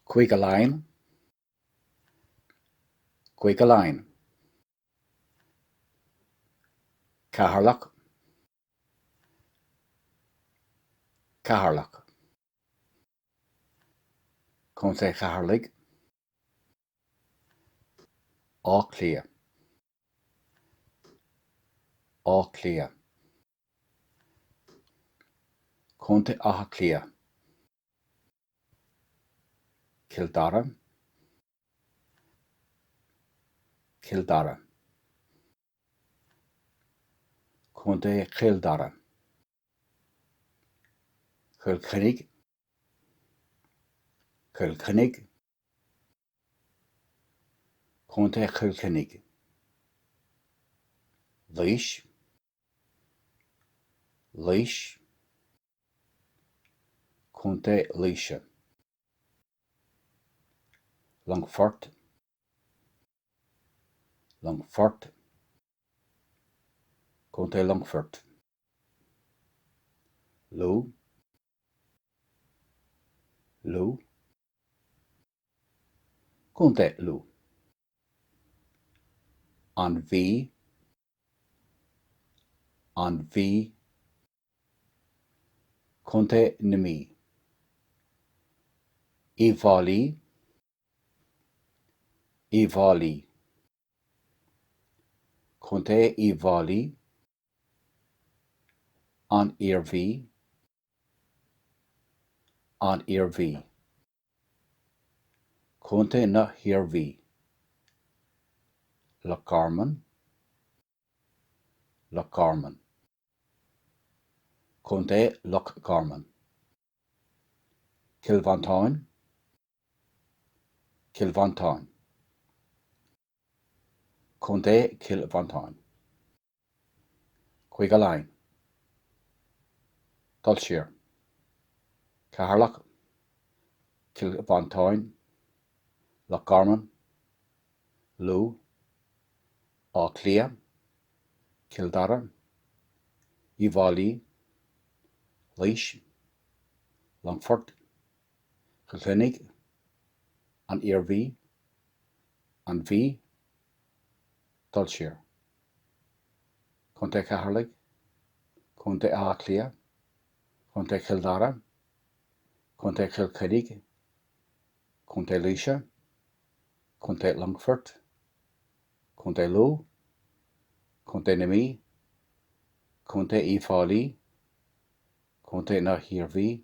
Cúige Laighean Cúige Laighean Ceatharlach Ceatharlach Contae Cheatharlaigh Áth Cliath Áth Cliath. Contae Átha Cliath, Cill Dara, Cill Dara, Contae Chill Dara, Cill Chainnigh, Cill Chainnigh, Contae Chill Chainnigh, Laois. Laois, Co. Laoise, Longfort, Longfort, Co. Longfoirt, Lú, Lú. Contae Lú. An Mhí, An Mhí, Contae na Mí. Uíbh Fhailí, Uíbh Fhailí, Contae Uíbh Fhailí. An Iarmhí, An Iarmhí, Contae na hIarmhí, Loch Garman, Loch Garman, Contae Loch Garman, Cill Mhantáin, Cill Mhantáin, Contae Chill Mhantáin. Cúige Laighean. Dul siar. Ceatharlach. Cill Mhantáin. Loch Garman. Lú. Áth Cliath. Cill Dara. Uíbh Fhailí. Laois. Longfort. Cill Chainnigh, an Iarmhí, an Mhí, dul siar. Contae Cheatharlaigh, Contae Átha Cliath, Contae Chill Dara, Contae Chill Chainnigh, Contae Laoise, Contae Longfoirt, Contae Lú, Contae na Mí, Contae Uíbh Fhailí, Contae na hIarmhí,